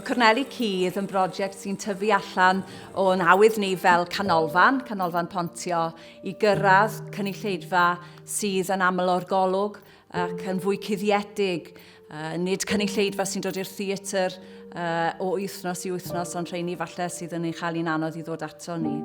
Corneli Cudd yn brosiect sy'n tyfu allan o'n awydd ni fel canolfan, canolfan pontio, i gyrraedd cynulleidfa sydd yn aml o'r golwg ac yn fwy cuddiedig, uh, nid cynulleidfa sy'n dod i'r theatr uh, o wythnos i wythnos, ond rheini falle sydd yn ei chael hi'n anodd i ddod ato ni.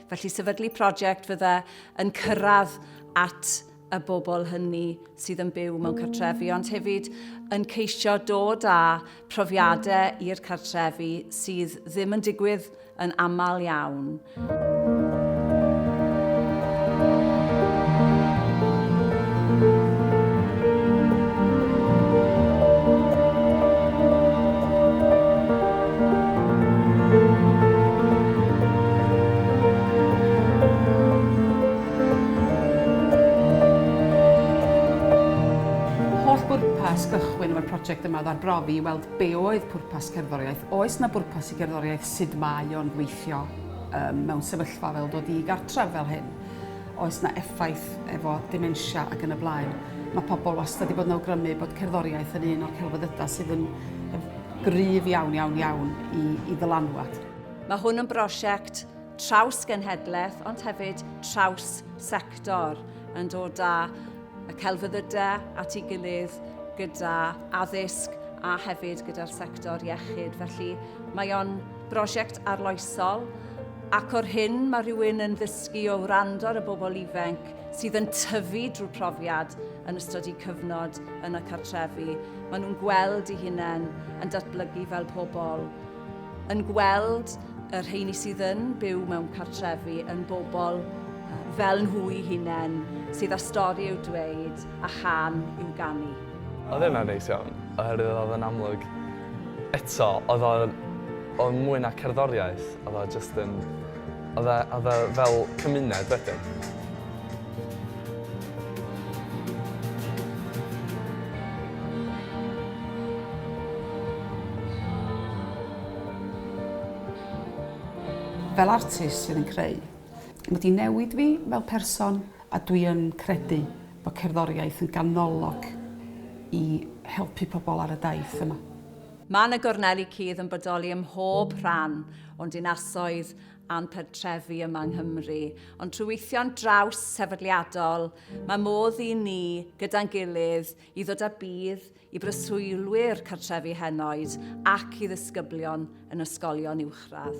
Felly sefydlu prosiect fydde yn cyrraedd at y bobl hynny sydd yn byw mewn cartrefi, ond hefyd yn ceisio dod â profiadau i'r cartrefi sydd ddim yn digwydd yn aml iawn. Holl bwrpas gychwyn efo'r project yma oedd arbrofi i weld Be oedd pwrpas cerddoriaeth? Oes 'na bwrpas i gerddoriaeth? Sud mae o'n gweithio yym mewn sefyllfa fel dod i gartref fel hyn? Oes 'na effaith efo dementia ac yn y blaen? Mae pobl wastad 'di bod yn awgrymu bod cerddoriaeth yn un o'r celfyddydau sydd yn yn gryf iawn, iawn, iawn i i ddylanwad. Mae hwn yn brosiect traws-genhedlaeth ond hefyd traws-sector yn dod â y celfyddydau at ei gilydd gyda addysg a hefyd gyda'r sector iechyd. Felly mae o'n brosiect arloesol ac o'r hyn mae rhywun yn ddysgu o wrando ar y bobl ifanc sydd yn tyfu drwy profiad yn ystod eu cyfnod yn y cartrefi. Maen nhw'n gweld eu hunain yn datblygu fel pobl yn gweld y rheini sydd yn byw mewn cartrefi yn bobl fel nhw'i hunain, sydd â stori i'w dweud a chan i'w ganu. Oedd hynna'n neis iawn, oherwydd oedd yn amlwg eto, oedd o'n mwy na cerddoriaeth, oedd o jyst yn A fe, a fe fel cymuned wedyn. Fel artist sydd yn creu. Mae wedi newid fi fel person a dwi yn credu bod cerddoriaeth yn ganolog i helpu pobl ar y daith yma. Mae 'na gorneli cudd yn bodoli ym mhob rhan o'n dinasoedd a'n pentrefi yma yng Nghymru. Ond trwy weithio'n draws sefydliadol, mae modd i ni, gyda'n gilydd, i ddod â budd i breswylwyr cartrefi henoed ac i ddisgyblion yn ysgolion uwchradd.